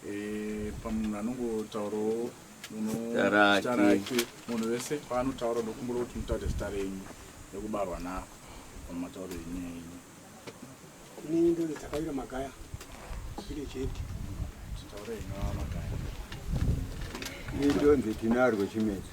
Eh, pamunhu anongotaurawo zita rake munhu wese paanotaura ndokumbura kuti mutaure zita renyu nekubarwa nako pamatauro enyaya yenyu inini ndoni dzakawira magaya ine chete titaure inoa magaya ini ndonzi tinarwe chimedzi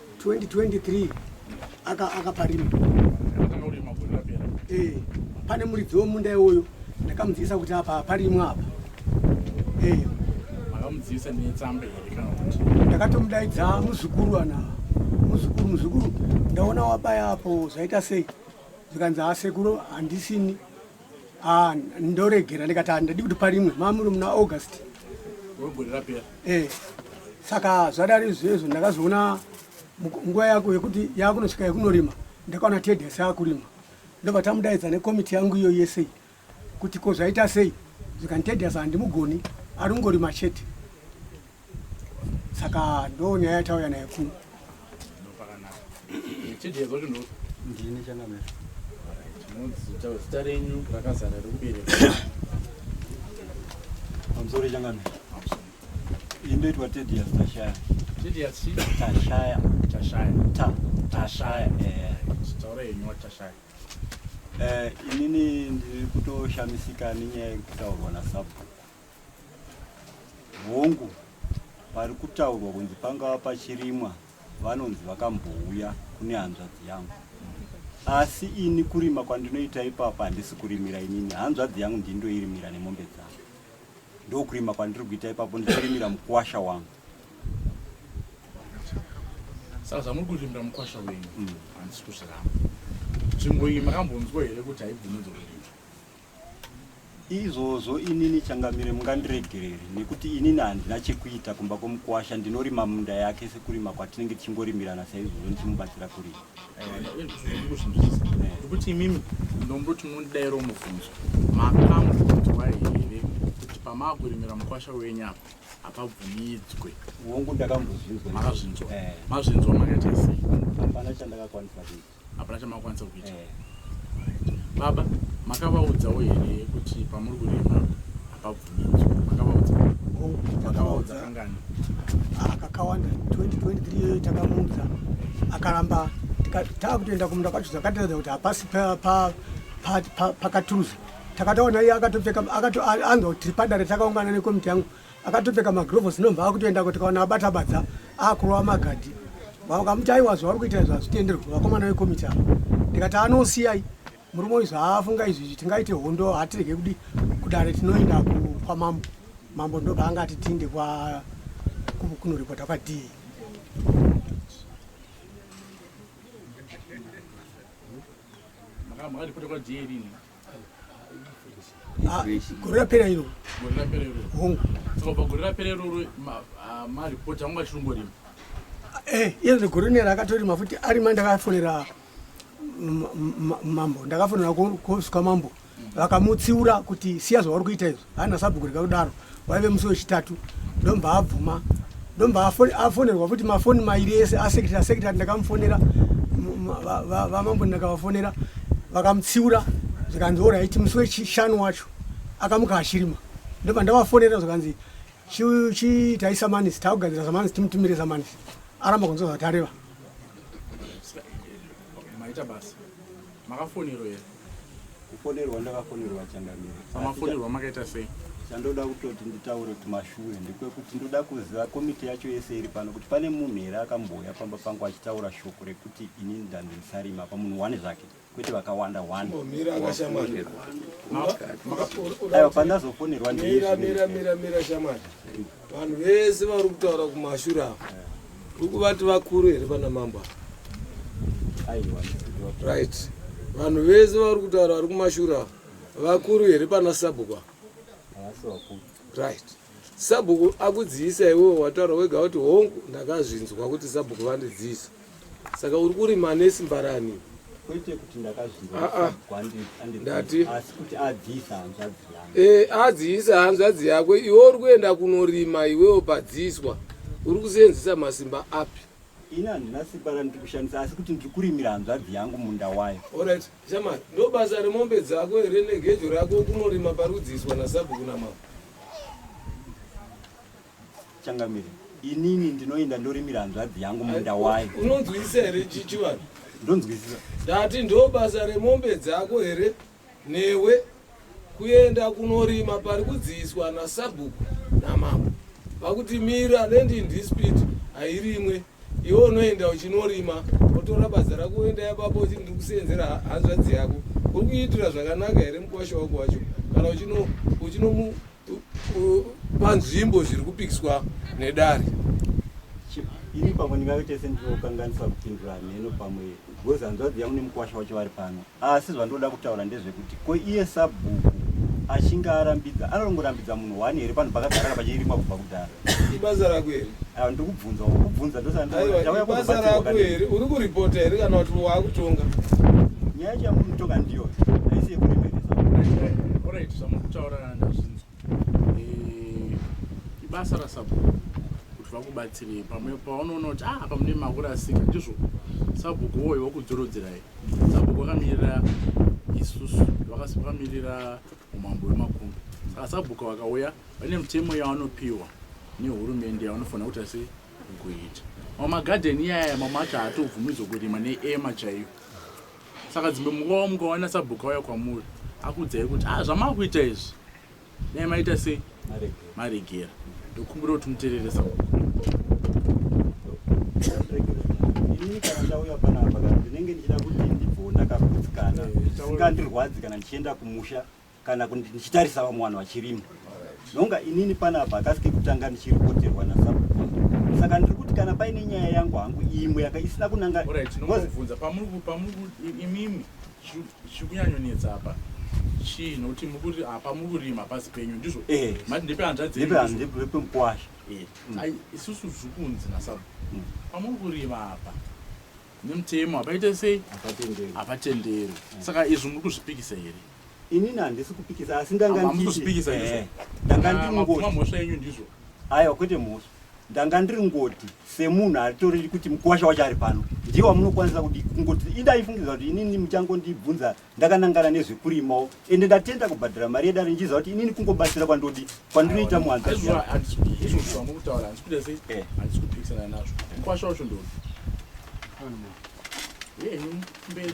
2023 aka akaparima eh pane muridzi wemunda iwoyo ndakamudzidzisa kuti apa aparimwa apa eh akamudzidzisa netsamba here kana kuti ndakatomudaidza muzukuru ana muzukuru muzukuru ndaona wabaya apo zvaita sei zvikanzi asekuru handisini Ah, ndoregera ndikati handidi kuti parimwe mamuri muna august eh, saka zvadari zvezvo ndakazoona nguva yako yekuti yakunosvika yekunorima ndakaona tedhes yakurima ndobva tamudaidza nekomiti yangu iyo yese kuti ko zvaita sei zvikanitedhes handimugoni ari kungorima chete saka ndo nyaya yatauya nayo kuno ndini changamera zita renyu rakazara rekubereka amsori changamera indoitwa tedias tashaya tedias tashaya tashaya ta tashaya eh taura yenyu watashaya eh inini ndiri kutoshamisika nenyaya yekutaurwa nasabhuku Hongu, pari kutaurwa kunzi pangava pachirimwa vanonzi vakambouya kune hanzvadzi yangu asi ini kurima kwandinoita ipapa handisi kurimira inini hanzvadzi yangu ndindoirimira nemombe dzangu ndokurima kwandiri kuita ipapo ndichirimira mukwasha wangu saka zvamuri kurimira mukwasha wenyu mm. handisi kuzviramba nzvimbo iyi makambonzwa here kuti haibvumidzo kurima Izvozvo inini Changamire mungandiregerere nekuti inini handina chekuita kumba kwomukuwasha ndinorima munda yake sekurima kwatinenge tichingorimirana saizvozvo ndichimubatsira kurima. ndikuzvinzwisisa nekuti imimi ndomboti mundidairo mubvunzo makamubvunzwa here kuti pamakurimira mukwasha wenyu apa hapabvumidzwe Hongu ndakambozvinzwa. makazvinzwa Eh. mazvinzwa makaita sei Hapana chandakakwanisa kuita. hapana chamakwanisa kuita eh. baba makavaudzawo here kuti pamuri kurima hapabvumidzwa makavaudza oh, makavaudza kangani ah, kakawanda 2023 iyoyo takamuudza akaramba taakutoenda kumunda kwacho zvakatiratidza kuti hapasi pakaturuza takataona iye akatopfeka anzwa kuti tiri padare takaungana nekomiti yangu akatopfeka magrovos inobva akutoendako tikaona abata badza akurova magadhi vakamuti aiwa zvavari kuita izvo hazvitenderwi vakomana vekomiti ava ndikati anosiyai murume uyu zvaafunga izvi izvi tingaite hondo hatirege kudi kudare tinoenda kwamambo mambo ndobva anga ati tiinde kunoripota kwadii Ah, gore rapera iro gore rapera iro hongu so pagore rapera iroro maripoti anga achirongorima eh, iye gore nera akatorima futi ari ma ndakafonera mambo ndakafonera kovswa mambo vakamutsiura kuti siya zvavari kuita izvo hana sabhuku rikakudaro waive musi wechitatu ndobva abvuma ndobva afonerwa futi mafoni mairi ese asekretary asekretary ndakamufonera vamambo ndakavafonera vakamutsiura zvikanzi oraiti musi wechishanu wacho akamuka achirima ndobva ndavafonera zvikanzi chiitai samanisi takugadzira samanisi timutumire samanisi aramba kunzwa zvatareva maita basa Makafonerwa here? Kufonerwa ndakafonerwa Changamire. Pamafonerwa makaita sei? Chandoda kutoti nditaure kuti mashure ndekwekuti ndoda kuziva komiti yacho yese iri pano kuti pane munhu here akambouya pamba pangu achitaura shoko rekuti ini ndanzi ndisarima apa munhu one zvake kwete vakawanda one. Mira akashamwari. Aiwa pandazofonerwa ndiri. Mira mira mira mira shamwari. vanhu vese vari kutaura kumashura ava uri kuvati vakuru here pana mambo ava right vanhu vese vari kutaura vari kumashura ava vakuru here pana sabhuku ava right sabhuku akudziisa iwewe wataura wega kuti hongu ndakazvinzwa kuti sabhuku vandidziisa Saka uri kurima nesimba rani? Kwete kuti ndakazvinzwa ah, ah. kwandiri ndati asi kuti adziisa hanzvadzi yangu. Eh, adziisa hanzvadzi yako iwe uri kuenda kunorima iwewo padziiswa uri kuseenzesa masimba api? Ini handina simba randiri kushandisa asi kuti ndiri kurimira hanzvadzi yangu munda wayo. Alright, Shamari, ndobasa remombe dzako here negejo rako kunorima parudziiswa nasabhuku namama? Changamire. Inini ndinoenda ndorimira hanzvadzi yangu munda wayo. Unonzwisisa here chichivanhu? Ndonzwisisa. Ndati ndobasa remombe dzako here newe kuenda kunorima pari kudziiswa nasabhuku namambo vakuti mira land in dispute hairimwe iwe unoenda uchinorima otora badza rako oenda yababa uchiti ndiri kuseenzera hanzvadzi yako uri kuitira zvakanaka here mukwasha wako wacho kana uchinomu panzvimbo zviri kupikiswa nedare ini pamwe ndingave tese ndinokanganisa kupindura hameno pamwe because hanzvadzi yangu nemukwasha wacho vari pano asi zvandoda kutaura ndezvekuti ko iye sabhuku achinge arambidza anongorambidza munhu one here panhu pakagarara pachirimwa kubva kudhara ibasa rako here ah, ndikubvunza kubvunza ndosaibasa rako here uri kuripota here kana kuti waakutonga nyaya chamunotonga ndiyo aisi yekuremeresa eh, ibasa rasabhuku kuti vakubatsirei pamwe paunoona kuti ah, apa mune makurasika ndizvo sabhuku woyo wakudzorodzerayi sabhuku vakamirira isusu vakamirira umambo wemakumbi saka sabhuku vakauya vane mitemo yavanopiwa nehurumende yavanofanira kuti asi kuita mamagadheni iyaya mamacho haatobvumidzwa kurima neema chaiyo Saka dzimwe munguva wamuka waona sabhuku auya kwamuri akuudzai kuti ah zvamakuita izvi dai maita sei maregera ndokumbira kuti muterere sabhuku inini kana ndauya panapa kana ndinenge ndichida kuti ndibvoo ndakagutsikana eh, singandirwadzi kana ndichienda kumusha kana kuti ndichitarisa vamwe vanhu vachirima nonga inini panapa kasi kekutanga ndichiripoterwa nasabhuku saka ndiri kuti kana paine nyaya yangu hangu imwe yaka isina kunangaunza pamuriimimi chikunyanyonetsa apa chii nokuti mukuti apa muri kurima pasi penyu ndizvo eh. mati ndepehanzadzepemukwasha eh. mm. isusu zviri kunzi nasabu mm. pamuri kurima apa nemutemo apaite sei apatenderwi mm. saka izvi muri kuzvipikisa here Inini handisi kupikisa asi ndanga Hamusi kuzvipikisa nditi ndizvo. eh, ndanga ndiri Makuma ngoti mhosva yenyu ndizvo. aiwa kwete mhosva ndanga ndiri ngoti semunhu atoriri kuti mukuwasha wacho ari pano ndiye wamunokwanisa kudi kungoti idai fungidzira kuti inini muchangondibvunza ndakanangana nezvekurimawo ende ndatenda kubhadhara mari yedare ndichiziva kuti inini kungobatsira kwandodi kwandinoita muhanza Ndizvo zviya. handisi ndizvo zvamuri kutaura handisi kuita sei Eh. handisi kupikisana nazvo. Mukwasha wacho ndoni. Henyu mberi.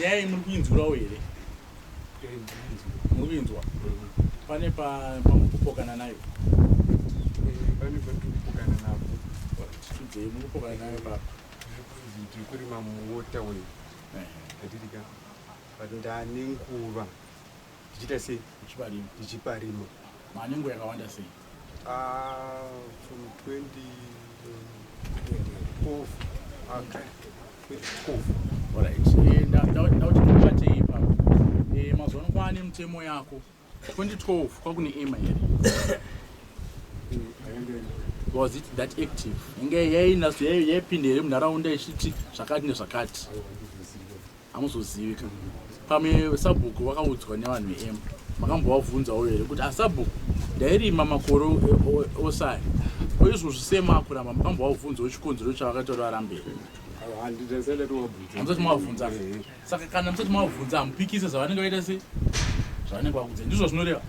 nyaya iyi muri kuinzwirawo here muri kuinzwa pane pamuri kupokana nayo pane patiri kupokana napo tiudzei muri kupokana nayo papa tiri kurima muwota weyi atirika but ndane nguva Tichiita sei? Tichiparima. Tichiparima. Manengo yakawanda sei? Uh, from 20 12 okay. 12 all right eh, ndauti mubatei ipapo eh, mazuva ano kwaane mutemo yako 2012 kwakune ema here was it that active inge yainazvo yaipinda here munharaunda ichiti zvakati nezvakati hamuzozivi ka pamwe sabhuku vakaudzwa nevanhu veemu makambovabvunzawo here kuti asabhuku ah, ndairima makore osai oizvozvi semakuramba makambovabvunzawo chikonzero chavakaita varambei hamusati mavabvunza saka kana musati mavabvunza hamupikise zvavanenge vaita se zvavanenge vakudza ndizvo zvinoreva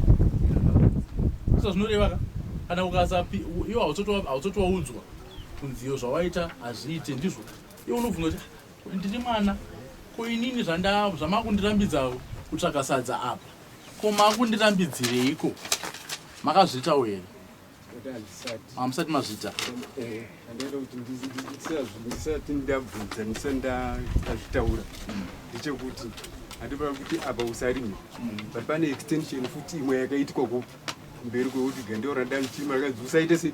ndizvo zvinoreva ka kana ukasapi iwo hautsotowaudzwa kunziyo zvawaita hazviite ndizvo iwo unobvunza kuti Ndini mwana ko inini zvamakundirambidza kutsvaga sadza apa ko makundirambidzireiko makazviitawo here hamusati mazvita ndisati ndabvunza ndisati ndazvitaura ndechekuti hatipa kuti apa usarime but pane extension futi imwe yakaitwa kupi mberi kwekuti gandeo radani chima rakazi usaite sei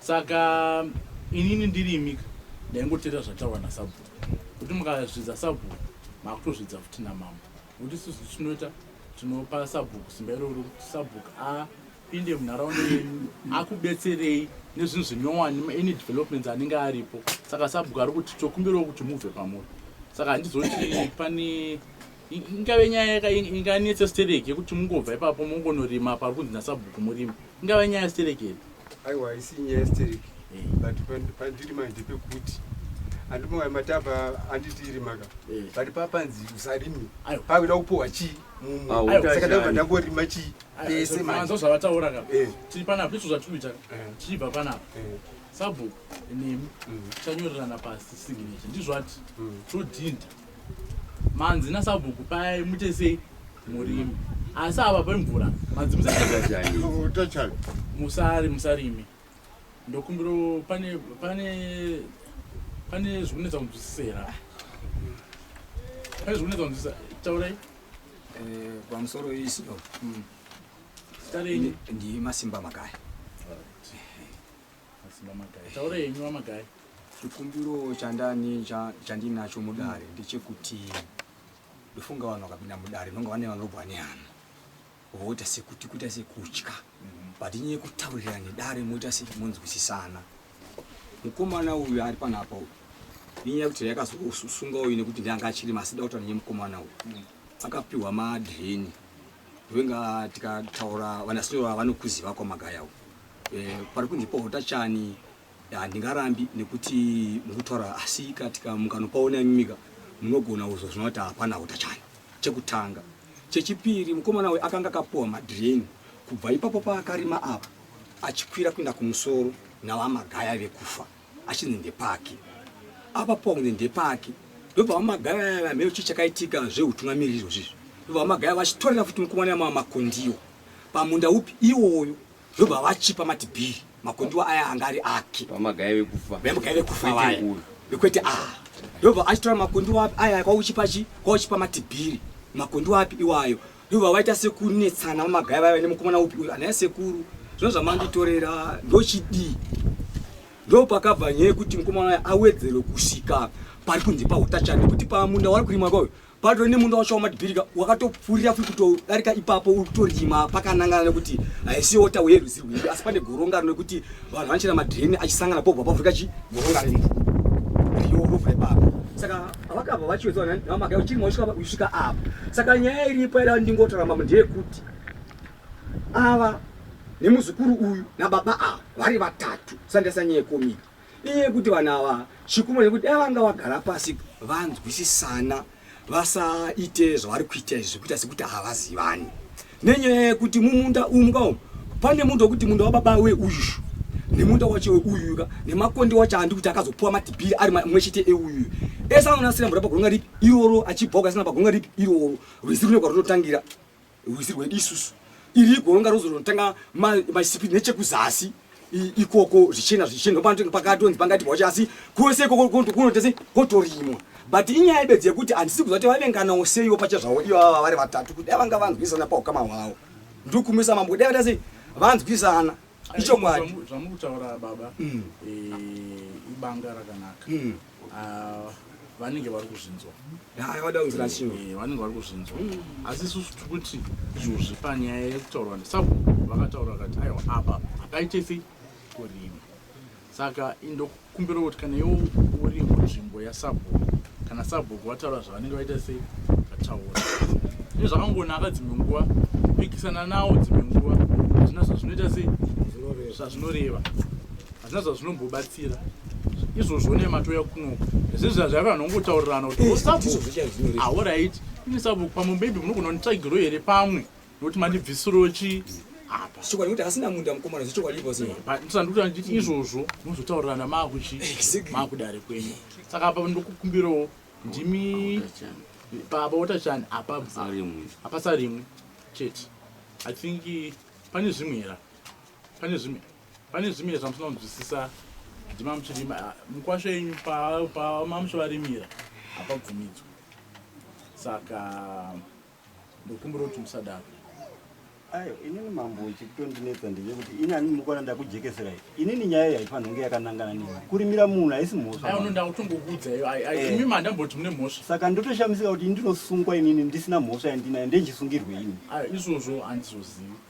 saka inini ndirimi ndaingoteera zvataurwa nasabhuku kuti mukazvidza sabhuku makutozvidza futi namambo kuti isusu tinoita tinopa sabhuku simba iroro kuti sabhuku apinde munharaunda yenyu akubetserei nezvinhu zvinyowani any developments anenge aripo saka sabhuku ari kuti tokumbirawo kuti mubve pamuri saka handizoti pane ingave nyaya yaka inganetsa stereki yekuti mungobva ipapo mongonorima pari kunzi nasabhuku murimi ingava nyaya stereki here aiwa haisi nyaya yestereki eh. but pandiri manje pekuti andimoya matava anditiri maka eh. but papanzi usarimi pakuda kupuhwa chii mumwesaka ndava ndangorima chii pese manzo zvavataura ka eh. tiri panapa izvo zvatikuita tichibva panapa sabhuku nemi mm. chanyorerana pasi signature ndizvati mm. todhinda manzi nasabhuku paya muite sei murimi asi ava pemvura manzi musari musarimi ndokumbiro pane pane pane zvikunetsa kunzwisisera pane zvikunetsa kunzwisisa taurai eh, pamusoro isio hmm. tarenyi ndimasimba makaya Taura henyu wamagayi. Chikumbiro chandani chandinacho mudare ndechekuti ndofunga vanhu vakapinda mudare ndonga vane vanobva nehana voita sekuti kuita sekutya mhm. but nyaya yekutaurira nedare moita semunzwisisana mukomana uyu ari panapa uyu inyaya yekuti yakazosunga uyu nekuti ndanga achiri masida kutaura nenye mukomana uyu mhm. akapiwa madheni ndovenge tikataura vanasinyoro vanokuziva kwamagaya uyu Eh, pari kunzi pohota chani handingarambi nekuti mukutaura asi katika mukanopaona imimika munogona uzo zvino kuti hapana hota chani chekutanga chechipiri mukomana we akanga akapuwa madhireni kubva ipapo paakarima apa achikwira kuenda kumusoro navamagaya vekufa achinzi ndepake apa po kunzi ndepake ndobva vamagaya vamheo chii chakaitika zveutungamiriri izvozvizvi ndobva vamagaya vachitorera futi mukomana yamava makondiwo pamunda upi iwoyo Ndobva vachipa mati bhii makondiwa aya anga ari ake vamagaye vekufa vamagaye vekufa vaya vekwete a ah. ndobva achitora makondiwa api aya kwauchipa chi kwauchipa mati bhiri makondiwa api iwayo ndobva vaita sekunetsana vamagaye vaya vane mukomana upi uyu anaya sekuru zvino zvamanditorera ndochidii ndopakabva nyaya yekuti mukomana waya awedzerwe kusvika pari kunzi pautachani kuti pamunda wari kurimwa kwayo patove nemunda wacho wamadhibirika wakatopfurira futi kutodarika ipapo uri kutorima pakanangana nekuti haisi wota uye rwizi rwedu asi pane goronga rinokuti vanhu vanochera madhireni achisangana pobva pavhurika chi goronga rino riyorovha ipapo saka vakabva vachiwedza namaka uchirima usvika apa saka nyaya iripo ira ndingotoramba ndeyekuti ava nemuzukuru uyu nababa ava vari vatatu sandesa nyaya yekomiti inyaya yekuti vanhu ava chikumwe nekuti dai vanga vagara pasi vanzwisisana vasaite zvavari kuita izvi zvekuita sekuti havazivani nenyaya yekuti mumunda umu ka umu pane munda wekuti munda wababa we uyu nemunda wacho weuyu ka nemakonde wacho andi kuti akazopuwa matibhiri ari mwe chete euyu ese anonasira mvura pagonga ripi iroro achibhoka asina pagonga ripi iroro rwizi rune kwarunotangira rwizi rwedu isusu iri goronga rozo rinotanga masipi nechekuzasi ikoko zvichena zvichena panenge pakatonzi pangati wacho asi kwese ikoko kunotese kotorimwa but inyaya ibedzi yekuti handisi kuziva kuti vavenganawo seiwo pacha zvavo ivo vava vari vatatu kuti dai vanga vanzwisana paukama hwavo ndokumisa mambo kudai vatase vanzwisana ichokwadi zvamukutaura baba mm. eh, ibanga rakanaka mm. Ah, vanenge vari kuzvinzwa Haa, vada kunzira shingo. Eh, vanenge vari kuzvinzwa asi isusu tiri kuti izvozvi panyaya yekutaurwa nesabhuku vakataura vakati aiwa apa hakaite sei kurima saka indokumbira kuti kana iwo uri munzvimbo yasabhuku kana sabhuku vataura zvavanenge vaita sei vataura izvi zvakangonaka dzimwe nguva kupikisana nawo dzimwe nguva hazvina zvazvinoita sei zvazvinoreva hazvina zvazvinombobatsira izvozvo nematouya kunoku zvinhu zvazvaiva vanhu vangotaurirana kuti osabuaorit ah, ini sabu pamwe maybe munogona kunditsvagiro here pamwe nokuti mandibvisiro chi apaandikuti andikuti izvozvo mozotaurirana maakuchi maakudare kwenyu saka apa ndokukumbirawo ndimi baba watachani apasarimwe chete i think pane zvimwe hera pane zvimwe Pane zvimwe zvamusina kunzwisisa ndimamuchirima mukwasho yenyu pamamuchivarimira hapabvumidzwa saka ndokumbira kuti musadaro ayo inini mambo chikutondinetsa ndeye kuti ini ani ndinokwana ndakujekeserai inini nyaya iyi haifanira kunge yakanangana neni kurimira munhu haisi mhosvaimi mandamboti mune mhosva saka ndotoshamisika kuti ini ndinosungwa inini ndisina mhosva yandinayo ndenchisungirwe ini izvozvo handizozivi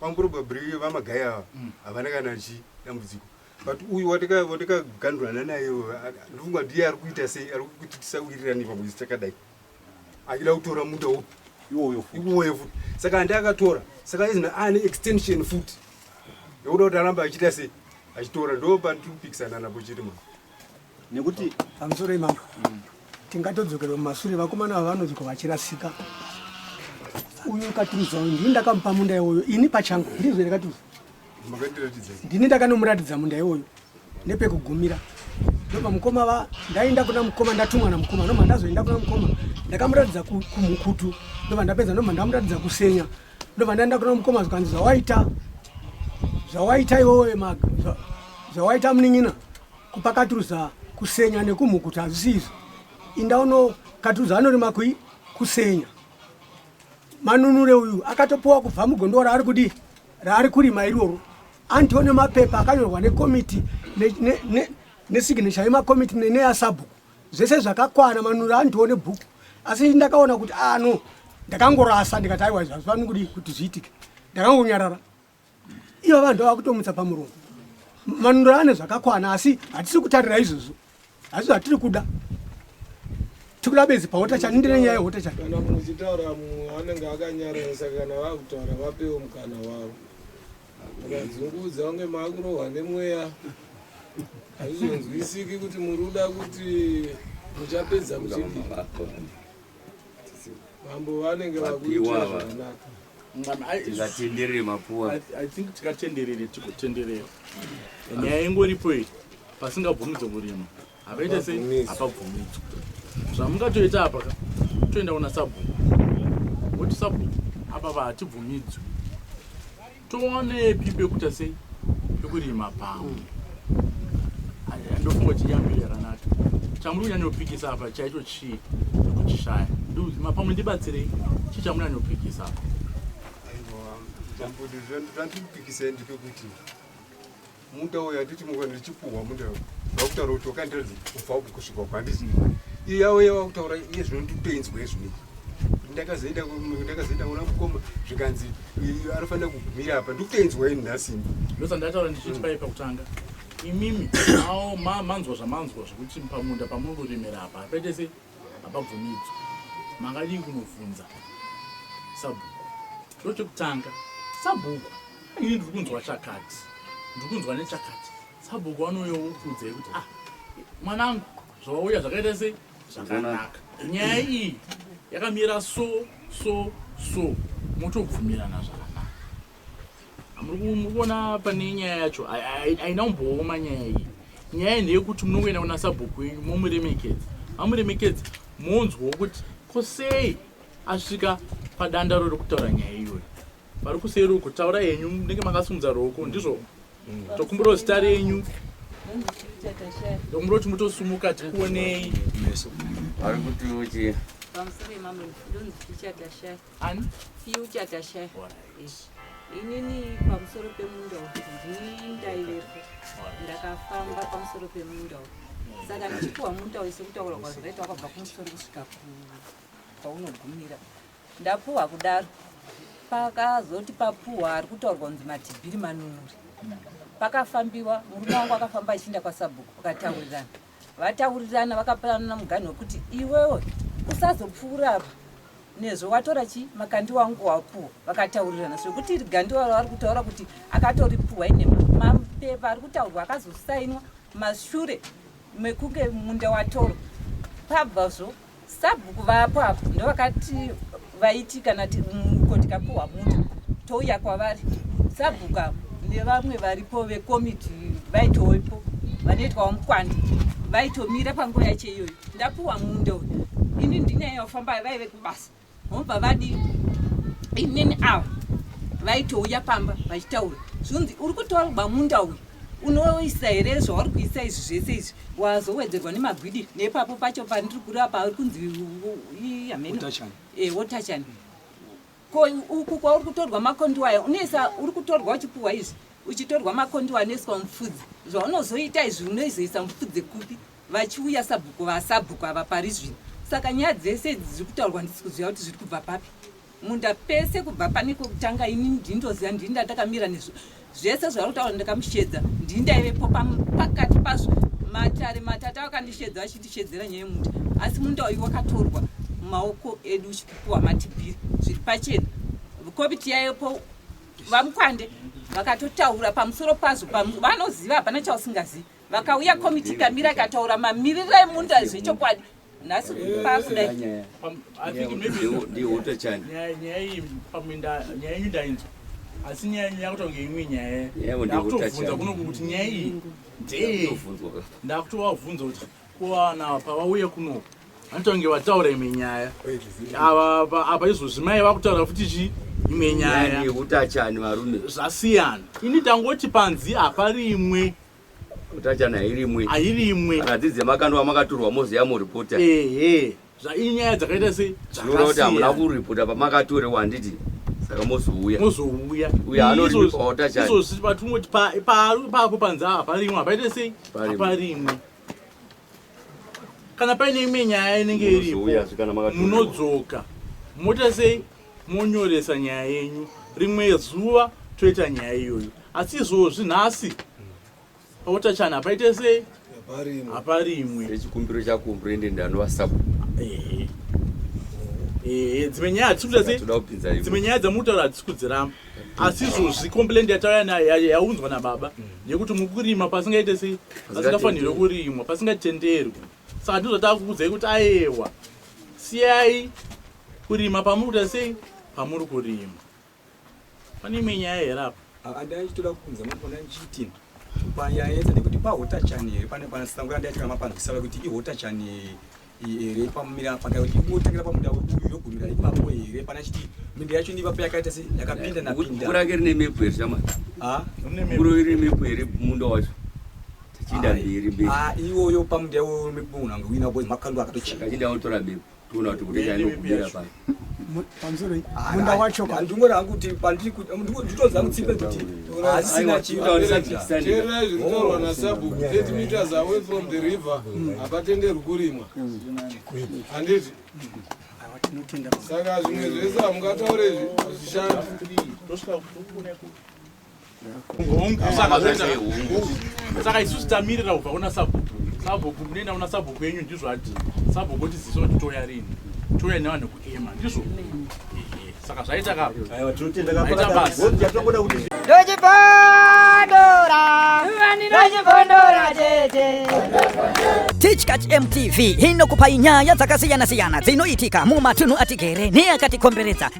Kwa probably vamagai ava mm. havana kana chi dambudziko but uyu watakagandurana naye ndofunga ndiye ari kuita sei ari kuti tisawirirani pamwezi takadai achida kutora munda upi iwoyo futi saka andi akatora saka izina ane extension futi yekuda kuti aramba achiita sei achitora ndo pandiri kupikisana napo chiri mwana nekuti pamusoro imama tingatodzokerwa mumasure vakomana ava vanonzwa vachirasika uyu katuruza uyu ndini ndakamupa munda iwoyo ini pachangu ndizvo here katuruza ndini ndakanomuratidza munda iwoyo nepekugumira ndopa mukoma va ndaenda kuna mukoma ndatumwa na mukoma noma ndazoenda kuna mukoma ndakamuratidza kumukutu ndova ndapedza noma ndamuratidza kusenya ndova ndaenda kuna mukoma zvikanzi zvawaita zvawaita iwowe maka zvawaita munin'ina Kupakaturuza kusenya nekumhukuta hazvisi izvo. Inda uno katuruza anorima kui kusenya. Manunure uyu akatopuwa kubva mugondo raari kudi raari kurima iroro. Antiwo nemapepa akanyorwa nekomiti nesignature ne, ne, ne yemakomiti neneyasabhuku zvese zvakakwana manunure antiwo nebhuku asi ndakaona kuti ano ah, ndakangorasa ndikati aiwa hazvifaniri kudi kuti zviitike ndakangonyarara Ivo vanhu vavakutomutsa pamuromo. Manunura ane zvakakwana asi hatisi kutarira izvozvo. Hazvo hatiri kuda. Tikuda bezi pahota chani ndine nyaya yehota chani. Kana muchitaura mumwe anenge akanyarara saka kana vakutaura vapewo mukana wavo. Vakadzungudza unge makurohwa nemweya. Hazvizonzwisiki kuti muruda kuti muchapedza muchidii. Mambo vanenge vakuitira zvakanaka. tingatenderere mapuwa i think tikatenderere tikotenderera nyaya ingoripo iyi pasingabvumidzo kurima havaite sei hapabvumidzwa zvamungatoita apa ka toenda kuna sabhuku woti sabhuku apa pa hatibvumidzwi toonepi pekuta sei pekurima pamwe ndofunga kuti yambireranato chamuri kunyanyopikisa apa chaicho chi chii ndokuchishaya ndima pamwe ndibatsirei chii chamunanyopikisa apo chambudu zvandirikupikisai ndepekuti muda uyo anditi mukwa ndichipuhwa muda vakutaura kuti wakandiradzi kubva uku kusvika uku handisi iye yavo ye vakutaura iye zvino nditoinzwa izvinei ndakazoenda ndakazoenda kuna mukoma zvikanzi anofanira kugumira apa ndikutoinzwa ini nhasini ndosandataura ndichiti paipa kutanga imimi awo ma manzwa zvamanzwa zvekuti pamunda pamuri kuremera apa hapaite se hapabvumidzwa mangadii kunobvunza sabhuku ndo chekutanga sabhuku ini ndiri kunzwa chakati ndiri kunzwa nechakati sabhuku vanoyokuudzai kuti ah mwanangu zvawauya zvakaita sei zvakanaka nyaya iyi yakamira so so so motobvumirana zvakanaka murikuona pane nyaya yacho haina kumbooma nyaya iyi nyaya ndeyekuti munongoenda kuna sabhuku wenyu momuremekedza mamuremekedza monzwawo kuti ko sei asvika padanda rori kutaura nyaya iyoyo vari kuseri uko taura yenyu munenge makasumudza roko ndizvo tokumbirawo zita renyu ndokumbira kuti mutosumuka tikuonei Ani? Future Tasha. Ish. Inini pamusoro pemunda uyu ndaivepo ndakafamba pamusoro pemunda uyu saka ndichipuwa munda uyu sekutaura kwazvakaita wakabva kumusoro kusvika kwaunogumira ndapuwa kudaro pakazoti papuwa ari kutaurwa kunzi matibhiri manunuri pakafambiwa murume wangu akafamba achiinda kwasabhuku pakataurirana Vataurirana vakapanana muganhu wekuti iwewe usazopfuura apa nezve watora chi makandi wangu wapuwa vakataurirana zvekuti iri gandi waro vari kutaura kuti akatoripuwa ine mapepa ari kutaurwa akazosainwa mashure mekunge munda watorwa pabva zvo Sabhuku vapo apo ndovakati vaiti kana muko tikapuhwa muta touya kwavari sabhuku apo nevamwe varipo vekomiti vaitoipo vanoitwawo mukwandi vaitomira panguva yacho iyoyo ndapuwa munda uyu ini ndinyaya yofamba vaive kubasa vobva vadi inini ava vaitouya pamba vachitaura zvinzi uri kutorwa munda uyu unoisa here zvauri kuisa izvi zvese izvi wazowedzerwa nemagwidi nepapo pacho pandiri kureva pauri kunzi wotachani eh, ko uku kwauri kutorwa makondiwa aya unoisa uri kutorwa uchipuhwa izvi uchitorwa makondiwa anoiswa mupfudzi zvaunozoita izvi unoizoisa mupfudzi kupi vachiuya sabhuku vasabhuku ava pari zvino saka nyaya dzese idzi dziri kutaurwa ndisi kuziva kuti zviri kubva papi munda pese kubva pane kwekutanga ini ndini ndoziva ndini ndatakamira nezvo zvese zvavari kutaura ndakamushedza ndini ndaivepo pakati pazvo matare matata vakandishedza vachindishedzera nyaya yemunda asi munda uyu wakatorwa mumaoko edu uchikupiwa matibhiri zviri pachena komiti yayepo vamukwande vakatotaura pamusoro pazvo vanoziva hapana chausingazivi vakauya komiti ikamira ikataura mamiriro emunda zvechokwadi nhasi pakudai asi nyaya yenyu yakutonge imwe nyaya ndakutobvunza kunoku kuti nyaya iyi ndee ndakutovabvunza kuti kuwana pavauye kunoku vanotonge vataura imwe nyaya apa izvozvi mai vakutaura futi chii imwe nyaya yekutachani varume zvasiyana ini tangoti panzi haparimwe Mutachana hairimwe. Hairimwe. Akadzi dzemakandwa makaturwa moziya mu reporter. Ehe. Zvainyaya dzakaita sei? Zvinoda kuti hamuna ku reporter pamakatura wanditi. Saka mozouya. Mozouya. Uya anoripa otachana. Izo sisi batumoti pa pa pa panza apa rimwe apaite sei? Parimwe. kana paine imwe nyaya inenge iripo munodzoka moita sei monyoresa nyaya yenyu rimwe zuva toita nyaya iyoyo asi izvozvi nhasi pautachana hapaite sei hapa rimwe rechikumbiro chakumbiro ende ndanovasapo dzimwe nyaya dzimwe nyaya dzamutaura hadzisi kudziramba asi izvozvi complaint yatauya nayo yaunzwa nababa mm. yekuti muri kurima pasingaite sei pasingafanirwe kurimwa pasingatenderwi saka ndizvo takukudzai kuti ayewa siyai kurima pamuri kuita sei pamuri kurima pane imwe nyaya here apa andai achitoda kukunza mapona nchitin panyaya yese nekuti pahotachani here pane panasango yandaitika mapanzwisava kuti ihotachani here pamumira paka ndingotangira pamunda webuyu yogumira ipapo here pana chiti minda yacho ndiva payakaita se yakapinda napinda mvura yake rine mepo here shama ha mvura iri mepo here munda wacho tachinda mberi mberi ha iwoyo pamunda iwoyo mepo unanga wina boy makando akatocheka tachinda utora mepo toona kuti kuti chaino kumira pano pamusoro munda wacho ndingori hangu kuti pandiritonzi hangu tsipe kuti hazisina chiiteerai zvinotaurwa nasabhuku 30 meters away from the river hapatenderwi kurimwa handiti saka zvimwe zvese hamungataure zvishandi saka isusu tamirira kubva kuna sabhuku sabhuku munoenda kuna sabhuku yenyu ndizvo ati sabhuku otiziso kuti toya rini toya nevanhu kuema ndizvo saka zvaita ka tichkach mtv inokupai nyaya dzakasiyana-siyana dzinoitika mumatunhu atigere neakatikomberedza